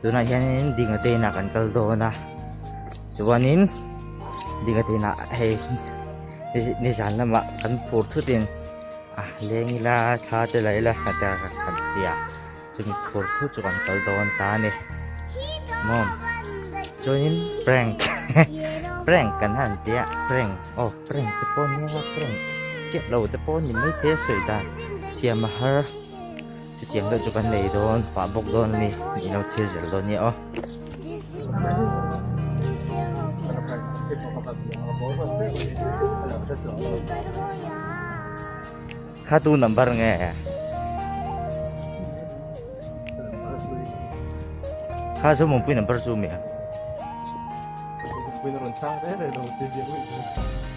tunah hianin dinga te inah kan kal dawn a chuanin dinga te inah hei nizan lamah kan phur thutin a leng ila thla te la ila hna te kan han ti a chumi phur thu chu kan kal dawn ta a ni mawm chuanin prank prank kan han ti a prank aw prank te pawh nia prank chiah lo te pawh a ni maithei a sawi dan thiam a har Chutiang deuh chu kan nei dawn, pah bawk dawn a ni, nih ilo thil zel dawn nia aw. Ha tu number nge? Ha zo mong pui number chu mi ha. Pui na ron chang re re lo ti viau i.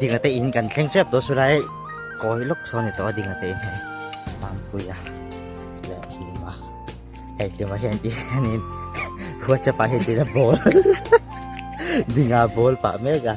Dingla te in kan thleng tep tawh chu lai kawi lawk chho a ni tawh a dingla te in hei Mampuii a leh hlim a hei hlimah hian tih hianin Whatsapp ah hian tihna ball dinga ball pah mek a.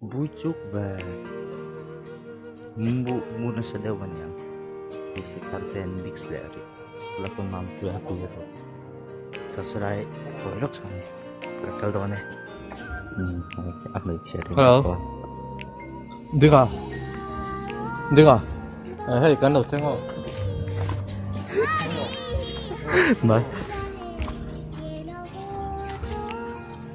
Bui chuk ve. Min bu mu na sa deuh ania. Basic content mix le ri. La ko mam tu happy le ko. Subscribe ko lok chang. La kal do ne. Ap mai che. Hello. Dinga. Dinga. Hey, kan lo tengo. Bye.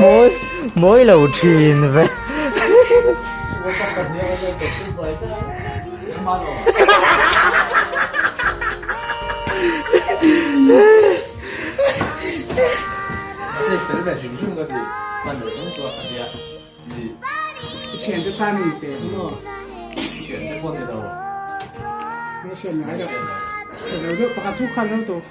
mawi mawi lo thin vek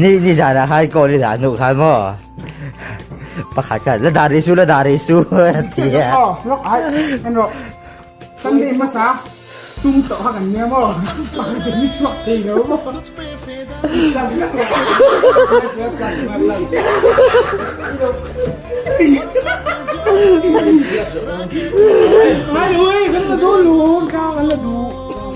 Ni ni zana khai ko ni zan nu khai mo. Pakhat ka la dari su la dari su tia. Lo ai en ro. Sunday masa tum to ha kan ne mo. Pakhat ni chuak te lo mo. Mai ui, kan la du lu, ka kan la du.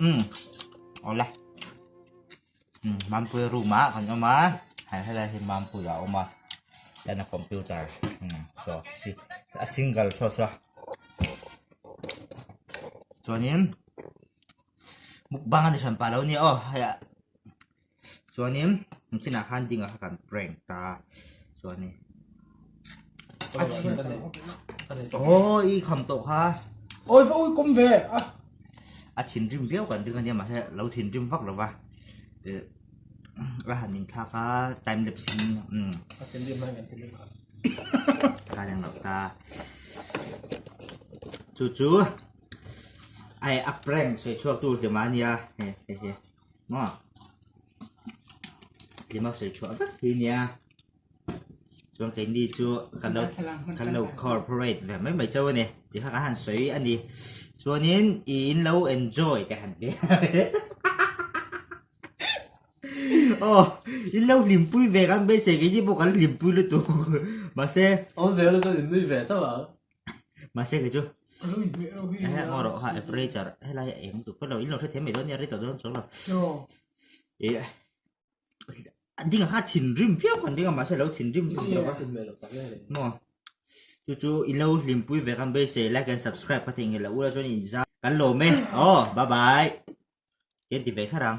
Umm, ola Umm, mampuia room a kan awm a Hei helai hi mampuia a awm a Chuan a computer umm sawh si a single saw saw Chuanin mukbang a ni hran pah lo nia aw hei a. chuanin an chinah khan ding a kha kan prank ta chuanin oh i kham to kha oi fa ui kum ve a a thin rim viau kan ring ania ma he lo thin rim vak lova ra han in tha ka time lapse in um a thin rim mai kan thin rim kha ka yang lo ta chu chu ai a prank soi chuak tu hlema nia he he he Maa. Lima soi chua vek hi nia. Chuan kei ni chu kan lo kan lo corporate ve mai mai chau a ni. Ti kha kan han soi a ni. Chuanin i in lo enjoy te han ti. Oh, in lo limpui ve kan beisei kei ni pawh kan lo limpui lutuk. Mahse. Awm ve lutuk in nui ve tawh ang. mahse keichu he hmawr erawh kha apperature helai a eng dup felo in lo hre thiam mai dawn nia rei tawh dawn chuang lo ih a dingah kha thinrim viau kha an ding a mahse lo thinrim thung tawh va maw chu chu i lo hlimpui ve kan beih se like and subscribe ka thei nghelh loh ula chuan inzam kan lawm e aw bye bye ken ti ve kher ang.